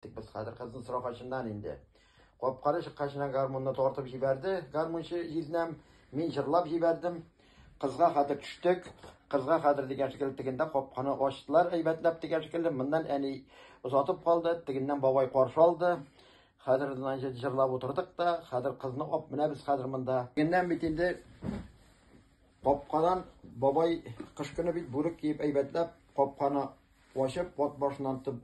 Тик без хәзер кызны сорагачыннан инде. Капканы чыккачына гармунны тартып җибәрде, гармунчы җизнәм. Мин җырлап җибәрдем. Кызга хәзер төштек. Кызга хәзер дигән шикелле тегендә капканы ачтылар әйбәтләп дигән шикелле. Моннан әни озатып калды, тегеннән бабай каршы алды. Хәзер значит җырлап утырдык та, хәзер кызны ап менә без хәзер монда. Тегеннән бит инде капкадан бабай кыш көне бит бүрек киеп әйбәтләп капканы ачып, пот башыннан тып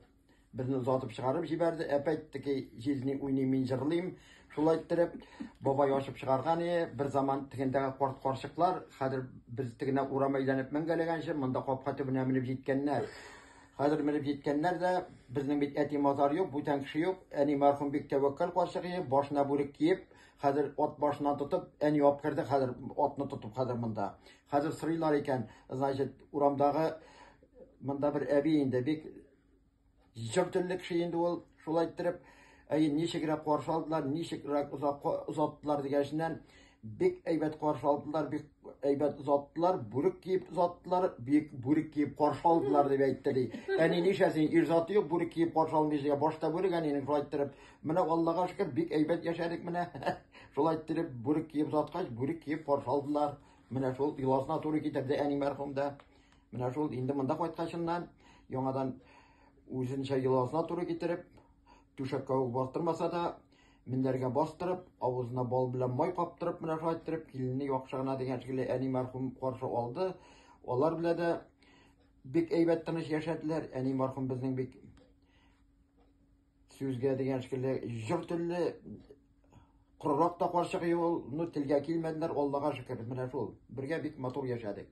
Безне озатып чыгарып җибәрде. Әпәйтте ки, җиз ни уйный, мин җырлыйм. Шулай иттереп, бабай ачып чыгарган иде. Бер заман тегендәге карт карчыклар, хәзер без тегенә урам әйләнеп мәңгәләгәнче, монда капка төбенә менеп җиткәннәр. Хәзер менеп җиткәннәр дә, безнең бит әти мазар юк, бүтән кеше юк. Әни мәрхүм бик тәвәккәл карчык иде, башына бүрек киеп, хәзер ат башыннан тотып, әни алып керде, хәзер атны тотып хәзер монда. Хәзер сорыйлар икән, значит, урамдагы Монда бер әби инде бик җыр телле кеше инде ул, шулай иттереп, әй ничегрәк каршы алдылар, ничегрәк озак озаттылар дигәннән, бик әйбәт каршы алдылар, бик әйбәт озаттылар, бүрек киеп озаттылар, бик бүрек киеп каршы алдылар дип әйтте ди. Әни нишәсен ир заты юк, бүрек киеп каршы алмыйсың, башта бүрек әнинең шулай иттереп, менә Аллага шөкер, бик әйбәт яшәдек менә. Шулай иттереп бүрек киеп озаткач, бүрек киеп каршы алдылар. Менә шул йоласына туры китерде әни мәрхүм дә. Менә шул инде монда кайткачыннан яңадан үзенчә йоласына туры китереп, түшәккә үк бастырмаса да, мендәргә бастырып, авызына бал белән май каптырып, менә шулай иттереп, киленне яхшы гына дигән шикелле әни мәрхүм каршы алды. Алар белән дә бик әйбәт тыныч яшәделәр. Әни мәрхүм безнең бик сүзгә дигән шикелле җыр телле корырак та карчык юл, ну телгә килмәделәр, Аллага шөкер, менә шул. Бергә бик матур яшәдек.